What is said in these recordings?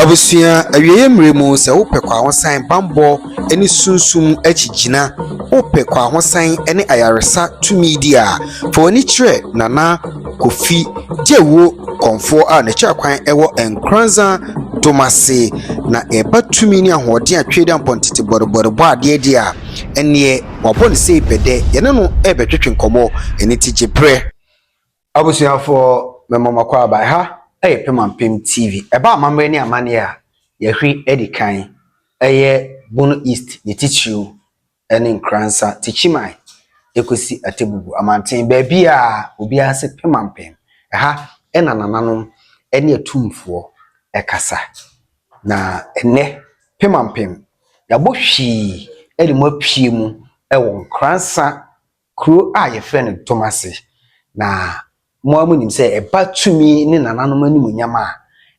Abusua awieɛ mmerɛ mu sɛ wopɛ kwahosan bammɔ ne sunsum akyigyina, wopɛ kwahosan ne ayaresa tumidi a, fa w'ani kyerɛ Nana Kofi Gyewuo Kɔmfoɔ a n'akyirɛkwan wɔ Nkoranza Domase. Na ɛba tumi ne ahoɔden a Tweaduampɔn tete bɔdebɔde bɔ adeɛ deɛ a, ɛnneɛ wabɔ no sei bɛdɛ. Yɛne no rebɛtwetwe nkɔmmɔ, ɛno nti gye berɛ. Abusuafoɔ mema mo akɔ aba. Ɛha yɛ Pemampem TV. Ɛba amammerɛ ne amanneɛ a, yɛhwe adi kan. Ɛyɛ Bono East ne titiriw ne Nkoransa, Tikyiman ɛkɔsi Atebubu amanten. Baabiara obiara se Pemampem. Ɛha na nananom ne atumfoɔ kasa. Na ɛnnɛ Pemampem yɛabɔ hwii de mo apue mu wɔ Nkoransa Kuro a yɛfrɛ no Tomase. Na mo ara monim sɛ ɛba tumi ne nananom animuonyam a,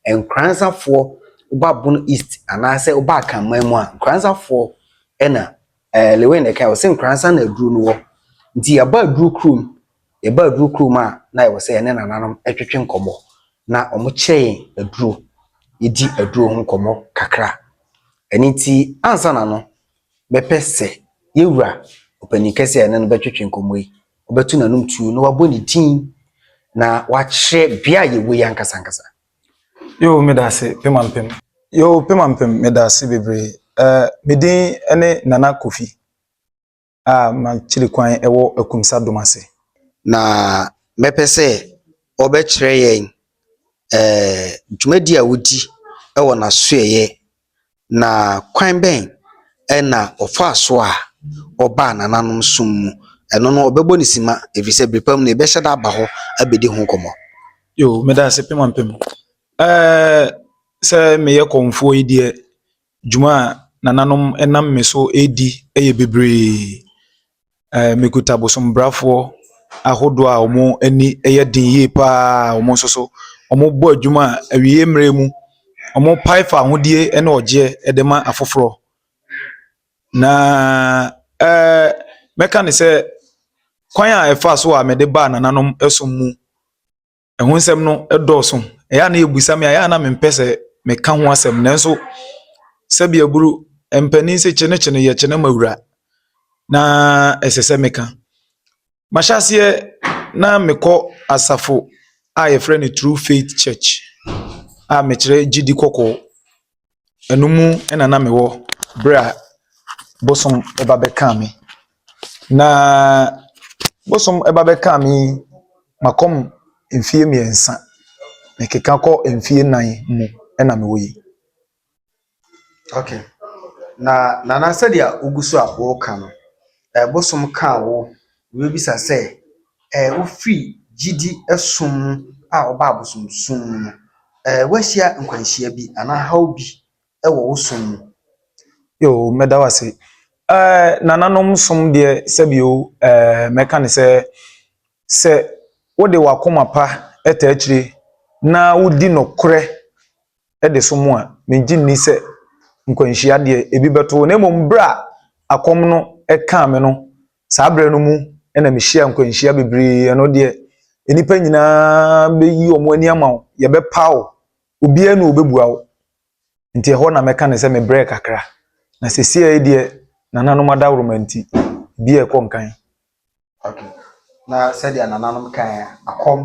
Nkoranzafoɔ, woba Bono East anaasɛ woba Akanman mu a, Nkoranzafoɔ na ɛɛ Lewin na ɛkae, ɔse Nkoranza na aduro no wɔ. Nti yɛba aduro kurom, yɛba aduro kurom a, na ɛwɔ sɛ yɛne nananom twetwe nkɔmmɔ. Na wɔkyerɛ yɛn aduro, yɛdi aduro ho nkɔmmɔ kakra. Ɛno nti, ansa na no, Mɛpɛ sɛ yɛn Wura, Ɔpanyin Kɛse a yɛne no bɛtwetwe nkɔmmɔ yi, ɔbɛto n'anom tuo na wabɔ ne din na wakyerɛ bea a yɛwɔ yi ankasa ankasa. Yoo, meda ase, Pemampem. Yoo, Pemampem, meda ase bebree. Eh, me din ne Nana Kofi a m'akyiri kwan wɔ Akumsa Dom ase. Na mɛpɛ sɛ ɔbɛkyerɛ yɛn, eh, dwumadi a wodi wɔ n'asoɛeɛ na kwan bɛn na ɔfaa so a ɔbaa nananom som mu? Ɛno no, ɔbɛbɔ no simma, ɛfiri sɛ berɛ pa mu no, yɛbɛhyɛ da aba hɔ abɛdi ho nkɔmmɔ. Yo, meda ase pɛ ma mpɛ mu. Ɛɛ, sɛ meyɛ kɔmfoɔ yi deɛ, dwuma a nananom nam me so redi yɛ bebree. Ɛɛ mekuta bosombrafoɔ ahodoɔ a wɔn ani yɛ den yie pa ara a wɔn nso so wɔbɔ adwuma a awieeɛ mmerɛ mu wɔpae fawohodie ne ɔgyeɛ de ma afoforɔ. Na ɛɛ mɛka no sɛ kwan a ɛfa so a mede baa nananom som mu. ɛho nsɛm no dɔɔso. Ɛyɛ a na wɔbisa me a, ɛyɛ a na mempɛ sɛ meka ho asɛm. Nanso, sɛdeɛ aburo mpanin se kyenekyene yɛ kyene ma wura, na ɛsɛ sɛ meka. Mahyɛ aseɛ na mekɔ asafo a wɔfrɛ no True Faith Church a mekyerɛ gyidi kɔkɔɔ. ɛno mu na na mewɔ berɛ a bosom ba bɛkaa me. Na bosom ba bɛkaa me yi, makɔm mfeɛ mmiɛnsa, mekeka kɔ mfeɛ nnan mu na mewɔ yi. Okay. Na Nana sɛdeɛ wogu so a woreka no, bosom kaa wo Wobebisa sɛ, Ɛ, wufi gyidi som mu a ɔba abosonsom mu no, ɛ, woahyia nkwanhyia bi anaa haw bi wɔ wo som mu? Yoo, mɛda wo ase. Ɛ, nananom som deɛ, sɛbio, ɛ, mɛka no sɛ, sɛ wode w'akoma pa ta akyire na wudi nokorɛ de som a, mengye nni sɛ nkwanhyia deɛ ebi bɛto wo. Na mmom berɛ a akɔm no kaa me no, Saa berɛ no mu na mehyia nkwanhyia bebree, ɛno deɛ nnipa nyinaa bɛyi wɔn ani ama wo, yɛbɛpa wo, obiara ni ɔbɛbua wo. Nti ɛhɔ na mɛka ne sɛ mebrɛ kakra, na sɛsiɛ deɛ nananom adaworoma nti, bia ɛkɔ nkan. Ok, na sɛdeɛ nananom kaeɛ, akɔm,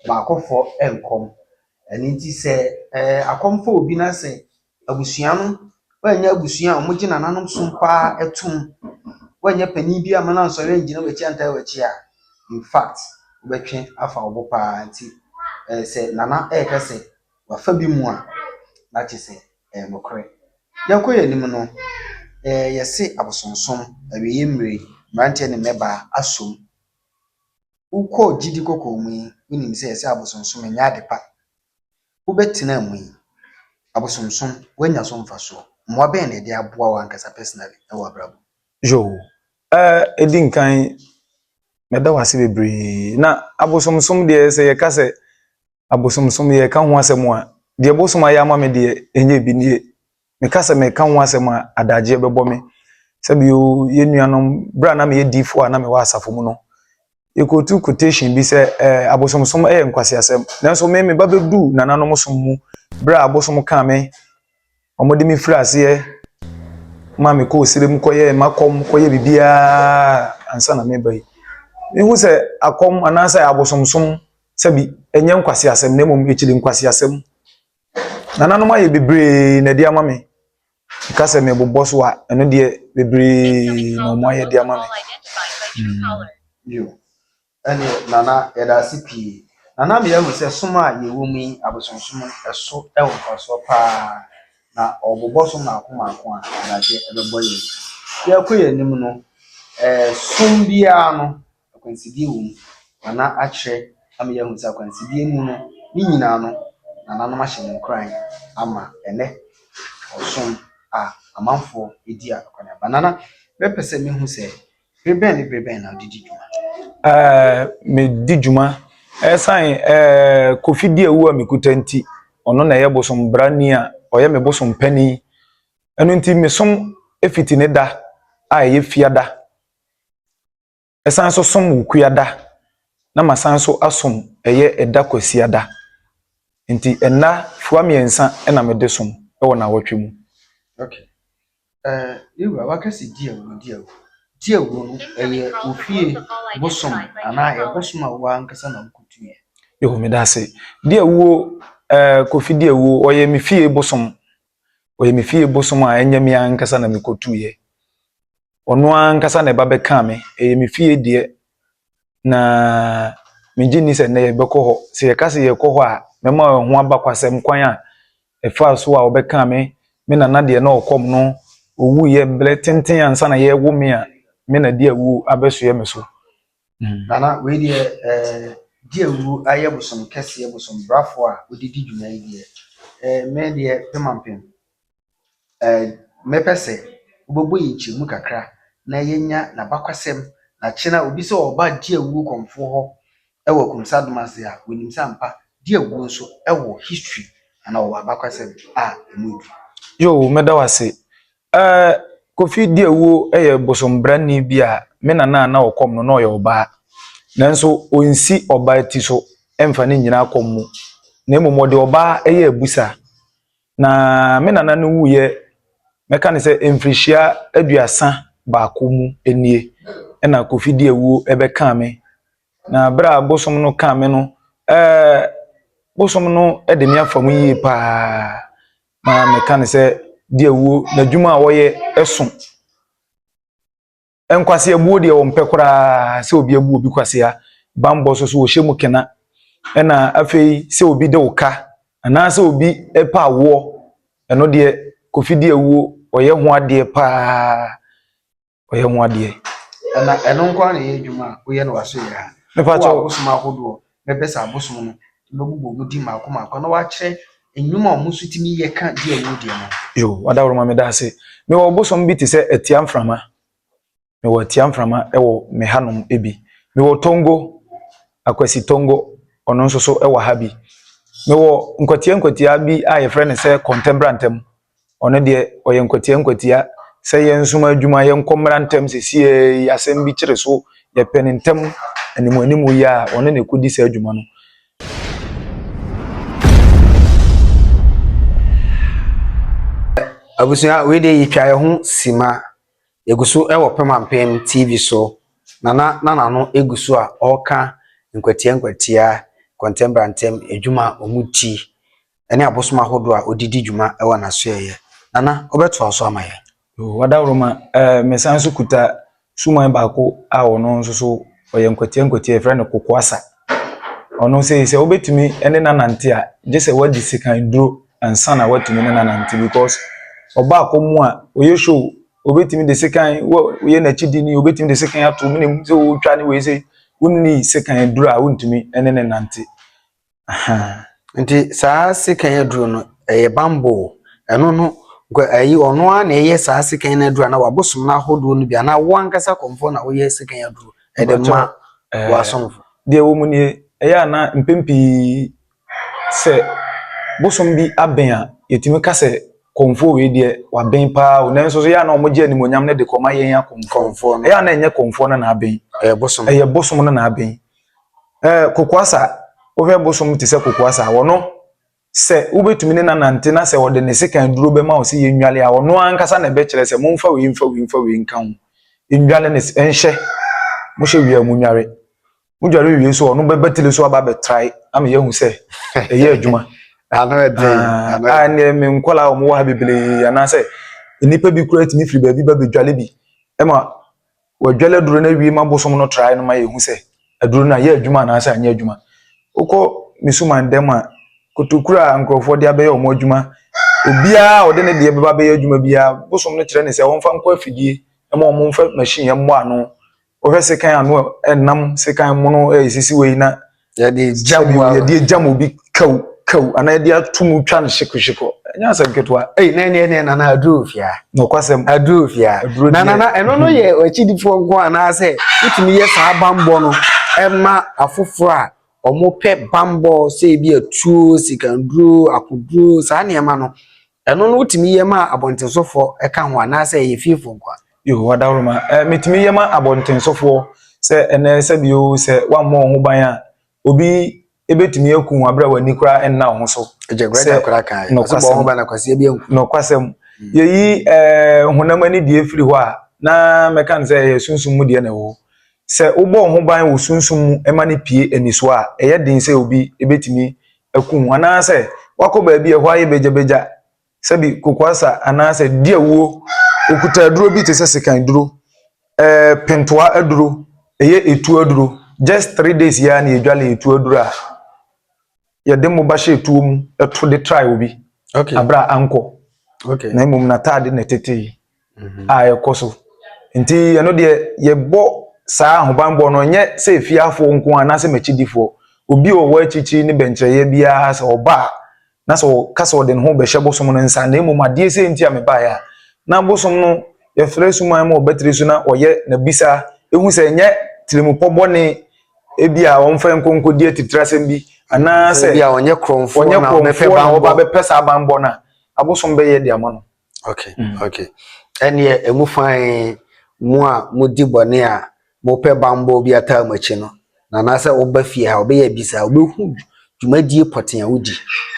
baakofoɔ nkɔm, ɛno nti sɛ akɔm fa obi na sɛ Abusua no woannyɛ abusua a wɔgye nananom som pa ara tom, woannyɛ panin bi a mɛma no ansɔre annyina w'akyi antaa w'akyi a, in fact, wobɛtwe afa wo bo pa ara. Nti eh, sɛ nana reka sɛ wafa bi mu a, na kyerɛ sɛ ɛyɛ nokorɛ. Yɛnkɔ yɛn anim no, eh, yɛse abosonsom, awieeɛ mmire, mmeranteɛ ne mmɛbaa asom. Wokɔ gyidi kɔkɔɔ mu yi, wonim sɛ yɛse abosonsom ɛnyɛ ade pa. wobɛtena mu yi, abosomsom, woanya so mfasoɔ? Mmoa bɛn na ɛde aboa wo ankasa personally wɔ abrabɔ? Yo, eh, ɛdi nkan, mɛda wo ase bebree. Na abosomsom deɛ, sɛ yɛka sɛ abosomsom, yɛreka ho asɛm a, deɛ bosom ayɛ ama me deɛ, ɛnyɛ bi nie. Meka sɛ mereka ho asɛm a, adagyeɛ bɛbɔ me. Sɛbio, yɛn nuanom, berɛ a na meyɛ diifoɔ a na mewɔ asafo mu no, yɛkɔtu quotation bi sɛ ɛɛ eh, abosomsom yɛ nkwaseasɛm. Nanso me, me ba bɛduu nananom som mu berɛ a abosom kaa me, wɔde me firi aseɛ ma mekɔ osire mu kɔyɛ makɔm, kɔyɛ biribiara ansa na meba yi. Mehu sɛ akɔm anaasɛ abosomsom sɛbi ɛnyɛ nkwaseasɛm na mmom ɛkyiri nkwaseasɛm. Nananom ayɛ bebree na ɛde ama me. Ka sɛ mebobɔ so a, ɛno deɛ bebree na wɔn ayɛ de ama me. Yo, ɛne nana yɛda ase pii. Nana mi ahu sɛ som a yɛwɔ mu yi abosonsom ɛso ɛwɔ mfasoɔ paa na ɔbobɔ so mmaako mmaako a adagye ɛbɛbɔ yɛn. Yɛkɔ yɛn anim no, ɛɛ som biara no. akwansideɛ wɔ mu, na na akyerɛ ama yɛahu sɛ akwansideɛ mu no, ne nyinaa no, nananom ahyɛ no nkuran ama ɛnnɛ ɔsom a amanfoɔ di a akɔneaba. Nana, mɛpɛ sɛ mehu sɛ bere bɛn ne bere bɛn na wode di dwuma? Ɛɛ, medi dwuma. Ɛsan ɛɛ Kofi di awu a mekuta nti, ɔno na ɛyɛ bosom brani a ɔyɛ me bosom panin. Ɛno nti, mesom fiti ne da a ɛyɛ fiada. san nso som Wukuada, na masan nso asom ɛyɛ ɛda Kwasiada. Nti nna fua mmiɛnsa na mede som wɔ nnawɔtwe mu. Okay. Uh, Yewura, waka sɛ di awu, di awu. Di awu no, ɛyɛ ofie bosom anaa ɛyɛ bosom a wo ankasa na wokutuiɛ? Yehu meda ase. Di awuo, uh, Kofi di awuo, ɔyɛ me fie bosom. Ɔyɛ me fie bosom a ɛnyɛ me ankasa na mekɔtuiɛ. Ɔno ankasa na ɛba bɛkaa me. Ɛyɛ me fie deɛ, na megye nni sɛ nnɛ yɛbɛkɔ hɔ. Sɛ yɛka sɛ yɛrekɔ hɔ a, mɛma ɛho aba kwasɛm kwan a ɛfaa so a wɔbɛkaa me, me nana deɛ na ɔkɔm no, ɔwuiɛ mberɛ tenten ansa na yɛrewo me a me na de awuo abɛsoɛ me so. Nana, wei deɛ eh, gye awuo ayɛ bosom kɛseɛ bosom brafoɔ a wode di dwuma yi deɛ eh, me deɛ pemampem eh, mɛpɛ sɛ wobɛbɔ yɛ nkyɛmu kakra na yɛnya n'abakwasɛm na kye na obi sɛ ɔba gye awuo kɔmfoɔ hɔ ɛwɔ akumsa dom ase a wɔnim sɛ ampa gye awuo nso ɛwɔ history ana ɔwɔ abakwasɛm a ɛmu edu. Yoo, meda wo ase. Ɛɛ, Kofi Diawuo yɛ bosombrani bi a me nana a na ɔkɔm no na ɔyɛ ɔbaa. Nanso ɔnsi ɔbaa ti so mfa no nnyina akɔm mu, na mmom ɔde ɔbaa yɛ abusa. Na me nana no wuiɛ, mɛka no sɛ mfirihyia aduasa baako mu nie na Kofi Diawuo bɛkaa me. Na berɛ a bosom no kaa me no, ɛɛ bosom no de me afa mu yie pa ara. na meka no sɛ di awuo na adwuma a wɔyɛ ɛso nkwaseabuo deɛ wɔmpɛ koraa sɛ obi abu obi kwasea bammɔ so so wɔhyɛ mu kena ɛna afei sɛ obi de wo ka anaasɛ obi pa awoɔ ɛno deɛ kofi di awuo ɔyɛ ho adeɛ paa ɔyɛ ho adeɛ. Ɛna ɛno nko ara na ɛyɛ adwuma a woyɛ no w'aso yɛ ha. Mepa kyɛw. Wɔ abosom ahodoɔ bɛpɛ sɛ abosom no bɛbobɔ wɔn din mako mako na wɔakyerɛ nnwuma a wɔn nso tumi yɛ ka di a wɔdi no. Yo, wadaworoma meda ase. Mewɔ abosom bi te sɛ atia mframa. Mewɔ atia mframa wɔ me hanom bi. Mewɔ tongo, akwasi tongo, ɔno nso so wɔ ha bi. Mewɔ nkwatia nkwatia bi a yɛfrɛ no sɛ kɔntɛbrantɛm, Ɔno deɛ ɔyɛ nkwatia nkwatia sɛ yɛnsoma adwuma yɛnkɔ mmra ntɛm sesiei asɛm bi kyere so yɛpɛ no ntɛm anim anim yi a ɔno na ɛkɔdi saa adwuma no. Abusua wei deɛ yɛtwa yɛn ho sima yɛgu so wɔ Pemampem TV so nana na nano egu so a ɔreka nkwatia nkwatia kɔntɛm brantem adwuma a wɔn ti ne abosom ahodoɔ a ɔde di dwuma wɔ n'asoɛeɛ. Nana, wobɛtoa so ama yɛn? Yoo, adaworoma, eh, mesan nso kuta suman baako a ɔno nso so ɔyɛ nkwatia nkwatia, yɛfrɛ no kokoasa. Ɔno sei, sɛ wobɛtumi ne no anante a, gye sɛ woadi sekan duro ansa na woatumi ne no anante because ɔba akɔm a, ɔyɛ show, obɛtumi de sekan, woyɛ n'akyidi ni, obɛtumi de sekan ato, menim sɛ wotwa ne wei sei, wonni sekan duro a wontumi ne no nante. Ahaa. Nti saa sekan aduro no ɛyɛ bambɔ o ɛno no nkɔ ɛyi ɔno ara na ɛyɛ saa sekan no aduro anaa wabosom no ahodoɔ no bi anaa wo ankasa kɔmfoɔ na woyɛ sekan aduro ɛde ma w'asomfo. Deɛ wɔ mu nie ɛyɛ a na mpɛn pii sɛ bosom bi abɛn a yɛtumi ka sɛ kɔmfoɔ wei deɛ wabɛn paa o nanso so ɛyɛ a na wɔgye animonyam no de kɔma yɛn akɔmfoɔ ɛyɛ a na ɛnyɛ kɔmfoɔ no na abɛn ɛyɛ bosom no na abɛn Ɛɛ Kokoasa, wohwɛ bosom te sɛ Kokoasa a, ɔno sɛ wobɛtumi ne no anante na sɛ ɔde ne sekan duro bɛma wo sɛ yɛnnwale a, ɔno ankasa na ɛbɛkyerɛ sɛ momfa wei mfa wei mfa wei nka ho. Nnwale ne nhyɛ, mohyɛ wie a monware. Modware wie so ɔno bɛba tiri so aba bɛtrae ama yɛahu sɛ ɛyɛ adwuma. ano ɛden ah, ano ah, ɛdeɛ me nkɔla a wɔwɔ ha bebree anaasɛ nnipa bi kura tumi firi baabi ba bɛdwale bi ɛma Wɔadwale aduro no awie ma bosom no trae no ma yɛhu sɛ aduro no ayɛ adwuma anaasɛ anyɛ adwuma. Wokɔ me suman dam a, kotokuro a nkurɔfoɔ de abɛyɛ wɔn adwuma, obiara a ɔde ne deɛ bɛba abɛyɛ adwuma biara, bosom no kyerɛ no sɛ wɔmfa nkɔ afidie ma wɔmfa machine mmɔ ano. Wohwɛ sekan ano a, ɛnam sekan mono resisi wei na yɛde gya mu a yɛde gya mu bi kaw kaw anaa yɛde ato mu twa no hyekohyeko ɛnyɛ asɛm ketewa. ɛyi na ɛne ɛne nana aduro fia. na ɔkwasɛm aduro fia na nana ɛno no yɛ akyidifoɔ nko anaasɛ wotumi yɛ saa bambɔ no ɛma afoforɔ a wɔpɛ bambɔ sɛ ebi atuo sikanduro akoduro saa nneɛma no Ɛno no wotumi yɛ ma abɔntensofoɔ ka ho anaasɛ ɛyɛ fiefoɔ nko a? Yo, adaworoma. Eh, metumi yɛ ma abɔntensofoɔ sɛ ɛnɛ sɛ bi o sɛ wammɔ wo ho ban a obi ebetumi aku wo abere a w'ani koraa nna wo ho so. Ɛgya kura gya kura kan. Nɔkwasɛm. Ɔsɛ bɔ ho ban na kwasia bi anku. Nɔkwasɛm. Mm. Yɛyi eh, honam ani deɛ firi hɔ a na mɛka no sɛ ɛyɛ sunsum mu deɛ na ɛwɔ hɔ. Sɛ wobɔ wo ho ban wɔ sunsum mu ɛma no pie anisoɔ a ɛyɛ den sɛ obi ebetumi aku ho, anaasɛ wakɔ baabi a ɛhɔ ayɛ bagyabagya, sɛbi kokoasa anaasɛ di awuo, ɔkuta aduro bi te sɛ sekan aduro, ɛɛ pentoa aduro, ɛyɛ etuo aduro, just three days yi ara na yɛdwale etuo aduro a yɛde mmoba hyɛ etuo mu to de trae obi, okay. abira ankɔ, okay. na mmom n'ataade na ɛtetee. a ɛkɔ so. Nti ɛno deɛ yɛbɔ saa ahobanbɔ no ɛnyɛ sɛ efiafoɔ nko ara anaasɛ m'akyidifoɔ. Obi a ɔwɔ akyirikyiri ne bɛnkyerɛeɛ biara sɛ ɔba a na sɛ ɔka sɛ ɔde ne ho bɛhyɛ bosom no nsa na mmom adeɛ sei nti a mebaeɛ a na bosom no yɛfrɛ suman ma ɔbɛtiri so na ɔyɛ n'abisa ɛhu sɛ ɛnyɛ tirimupɔ bɔne ebi a ɔmfa nkɔ nkɔdi atitirasɛm bi anaasɛ ɔnyɛ korɔmfoɔ na ɔbɛpɛ banbɔ ɔbɛpɛ saa banbɔ no a abosom bɛyɛ de ama no. okay mm. okay ɛneɛ ɛmu fan mu a modi bɔne a mopɛ bambɔ bi ataa mu akyi no na anaasɛ woba fie ha wobɛyɛ bisa wobɛhu dwumadie pɔten a wodi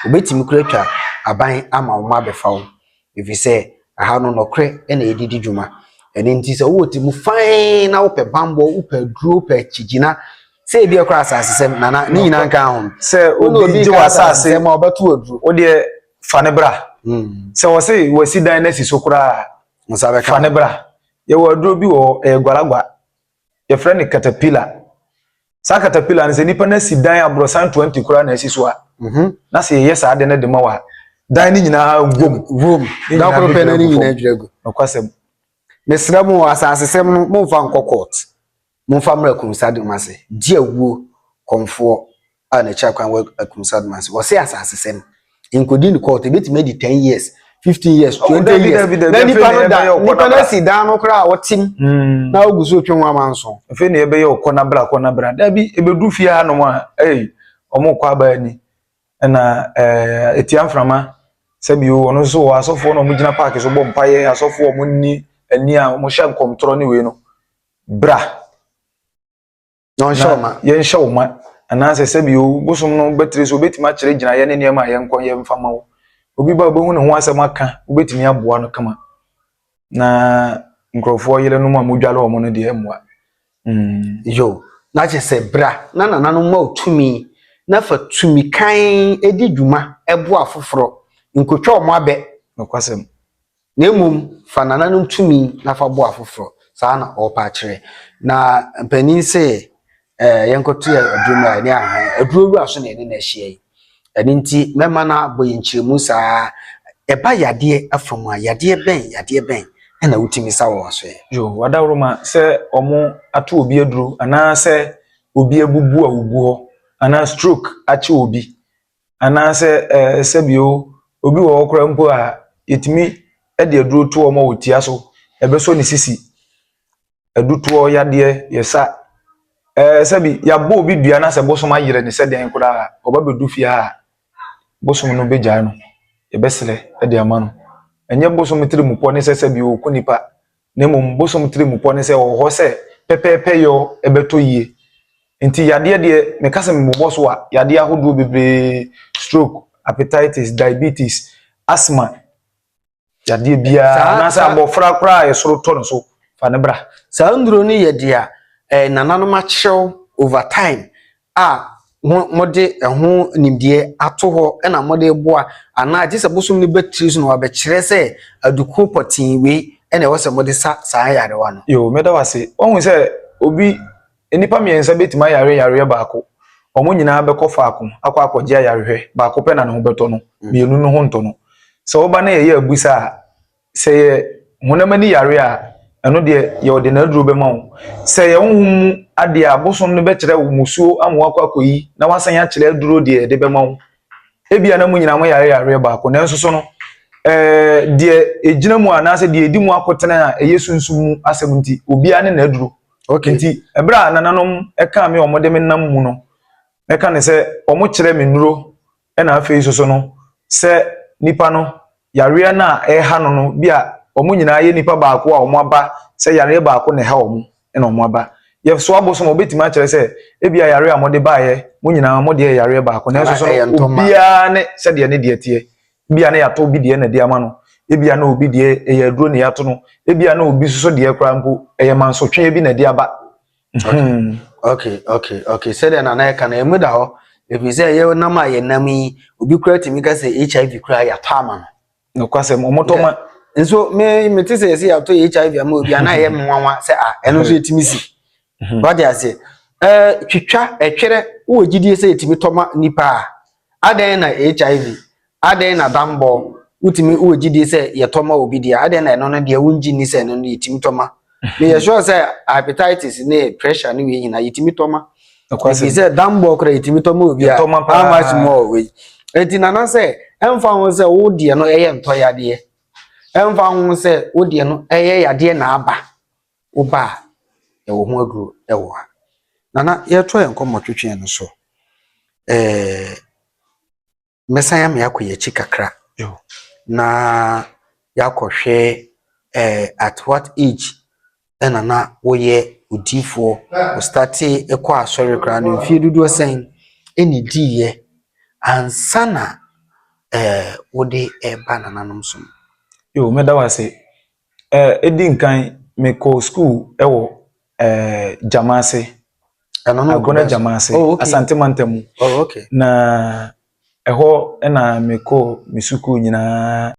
wobɛtumi kora twa aban ama wo ma abɛfa wo ɛfiri sɛ aha no nɔkorɛ ɛna ɛdidi dwuma ɛno nti sɛ wowɔ ti mu fan na wopɛ bambɔ wopɛ duro wopɛ kyigyina sɛ ebi ɛkora asase sɛm nana ne nyinaa nka ho sɛ obi gye wɔ asase sɛm a ɔbɛto aduro wodeɛ fa ne bra hmm. sɛ wɔse wɔasi dan no asi so koraa fa ne bra yɛwɔ aduro bi wɔ ɛyɛ gwalagwa yɛfrɛ no katapila saa katapila no sɛ nipa no asi dan aborɔsan 20 koraa na asi so a mhm. na sɛ yɛyɛ saa de no de ma wɔ a dan no nyinaa wom wom dakoro pɛ no ne nyinaa dwira gu nokwasɛm mesrɛ mo asasesɛm no momfa nkɔ court Momfa mmra Akumsadom ase, gye awuo kɔmfoɔ a n'akyiri akwan wɔ Akumsadom ase. Wɔse asasesɛm nkɔdi no court, ɛbɛtumi adi ten years, fifteen years, Oh, twenty dabi, years. dabi, dabi, Na afei nipa na no da, yɛbɛyɛ ɔkɔ nipa no n'abra. asi dan no koraa a ɔtem Mm. na ɔgu so retwe ho amanso. Afei na yɛbɛyɛ ɔkɔ n'abra, kɔ n'abra. Dabi, ɛbɛdu fie hanom a, ei, wɔn kɔ aba ani. Ɛna ɛɛ, ɛtia mframa, sɛbi o, ɔno nso wɔ asɔfoɔ na wɔgyina park so bɔ mpaeɛ, asɔfoɔ a wɔnni ani a wɔhyɛ nkɔmtorɔ ne wei no. Bra, na ɔnhyɛ wo ma. Yɛnhyɛ wo ma. Anaasɛ sɛbi o, bosom no bɛtiri so, obɛtumi akyerɛ gyinaeɛ ne nneɛma a yɛnkɔ yɛ mfa ma wo. Obi ba obɛhu ne ho asɛm aka, wobɛtumi aboa no kama. Na nkurɔfoɔ yerenom a modware wɔn no deɛ ɛmmoa. Mm. Yo, na kyerɛ sɛ bra na nananom ma wo tumi na fa tumi kann di dwuma boa afoforɔ. Nkɔtwa wɔn abɛ. Nokwasɛm. na mmom fa nananom tumi na fa boa afoforɔ. Saa na ɔrepɛ akyerɛ. Na mpanin se ɛɛ yɛnkɔto yɛ aduro mu a ɛne ahan aduro wura so na ɛne na ahyia yi. Ɛno nti mɛma no abɔ yɛn nkyerɛmu saa ɛba yadeɛ afa mu a yadeɛ bɛn yadeɛ bɛn ɛna wotumi sa wɔ wasoɛ. Yo, wadawroma sɛ ɔmo ato obi aduro anaa sɛ obi abubu a ogu hɔ anaa stroke akye obi Anaasɛ sɛbio obi wɔ hɔ koraa mpo a yɛtumi de aduro to wɔn a wɔtia so, ɛbɛsɔ ne sisi, adutoɔ yadeɛ, yɛsa, ɛɛ sɛbi yɛabɔ obi dua na sɛ bosom ayere no sɛ dɛn koraa a, ɔba bɛdu fie ha a, bosom no bɛgyae no, yɛbɛsrɛ de ama no. Ɛnyɛ bosom tirimupɔ ne sɛ sɛbi ɔku nipa, na mmom bosom tirimupɔ ne sɛ ɔwɔ hɔ sɛ pɛpɛɛpɛyɔ bɛtɔ yie. Enti yadeɛ deɛ, meka sɛ mebobɔ so a, yadeɛ ahodoɔ bebree, stroke, hepatitis, diabetes, asthma, yadeɛ biara, anaasɛ abɔfra koraa a ɛsoro tɔ no so, fa no bra. Saa nnuro no yɛ deɛ nananom akyerɛw over time a wɔde ɛho nimdeɛ ato hɔ na wɔde reboa anaa gye sɛ bosom no bɛtiri so na wɔabɛkyerɛ sɛ aduku pɔtee wei na ɛwɔ sɛ wɔde sa saa yarewa no. Yoo, mɛda wo ase. Woahu sɛ obi, nnipa mmiɛnsa bɛtumi ayare yareɛ baako, wɔn nyinaa bɛkɔ faako akɔ akɔgye ayarehwɛ, baako pɛ na ne ho bɛtɔ no, mmienu no ho ntɔ no. Sɛ woba na yɛyɛ abusa a, Sɛ ɛyɛ honam ani yare a, ɛno deɛ wɔde n'aduro bɛma wo. Sɛ ɛyɛ honhom mu adeɛ a, bosom no bɛkyerɛ wo mmusuo ama woakɔ akɔyi na woasan akyerɛ aduro deɛ yɛde bɛma wo. Ebia na mo nyinaa moyare yareɛ baako, nanso so no, ɛɛ deɛ ɛgyina mu anaasɛ deɛ ɛdi mu akotene a ɛyɛ sunsum mu asɛm nti, obiara ne n'aduro. Okay. Nti, ɛberɛ a nananom ɛkaa me wɔde me nam mu no, mɛka ne sɛ wɔkyerɛ me nnuro Ɛna afei nso so no, sɛ nipa no yareɛ no a ɛreha no no bi a wɔn nyinaa yɛ nipa baako a wɔaba sɛ yareɛ baako na ɛha wɔn na wɔaba. Yɛsoa bo so ma wɔbɛtumi akyerɛ sɛ ebi a yareɛ a mode baeɛ mo nyinaa mo deɛ yɛ yareɛ baako nanso so no obiara ne sɛdeɛ ne deɛ teɛ. Ebi a na yɛatɔ obi deɛ na de ama no, ebi a na obi deɛ ɛyɛ aduro na yɛato no, ebi a na obi nso so deɛ koraa mpo ɛyɛ mansotweɛ bi na ɛde aba. Hmm, okay, okay, okay. Sɛdeɛ nana ɛka no, ɛmu da hɔ. Ɛfiri sɛ ɛyɛ nam a yɛnam yi, obi kura tumi ka sɛ HIV kura yɛatɔ ama no. Nokwasɛm, wɔtɔ ma. Nso me mete sɛ yɛsɛ yɛatɔ HIV ama obi a na ɛyɛ nwanwa sɛ a ɛno nso yɛtumi si. Mhm. Wate aseɛ. Ɛɛ twitwa ɛtwerɛ wɔ gyidie sɛ yɛtumi tɔ ma nipa a. Adɛn na HIV Adɛn na dammɔ, wotumi, wowɔ gyidie sɛ yɛtɔ ma obi deɛ, adɛn na ɛno no deɛ wongye nni sɛ ɛno no yɛtumi tɔ ma? Meyɛ sure sɛ hepatitis ne pressure ne wei nyinaa yɛtumi tɔ ma. Nokwasɛm. Ɛfiri sɛ dammɔ koraa yɛtumi tɔ ma obi a, Yɛtɔ ma paa. how much more wei? Enti nana sɛ, ɛmfa ho sɛ wo deɛ no ɛyɛ ntɔ yadeɛ, ɛmfa ho sɛ wo deɛ no ɛyɛ yadeɛ na aba, wo ba a, yɛwɔ ho aduro ɛwɔ ha. Nana, yɛretoa yɛn nkɔmmɔtwetweɛ no so. Ɛɛ. mɛsan ame akɔ yɛn akyi kakra na yɛakɔhwɛ eh, at what age ɛna na woyɛ odiifoɔ ostate kɔ asɔre koraa no mfie dodoɔ sɛn ɛna diiɛ ansa na eh, wode ɛba nananom so yo mɛda wo ase Ɛɛ, edi nkan mekɔɔ sukuu wɔ ɛɛ Gyamase. Ɛno no Agona Gyamase, oh, okay. Asante Mantam mu. Oh, okay. Na ɛhɔ na mekɔɔ me sukuu nyinaa.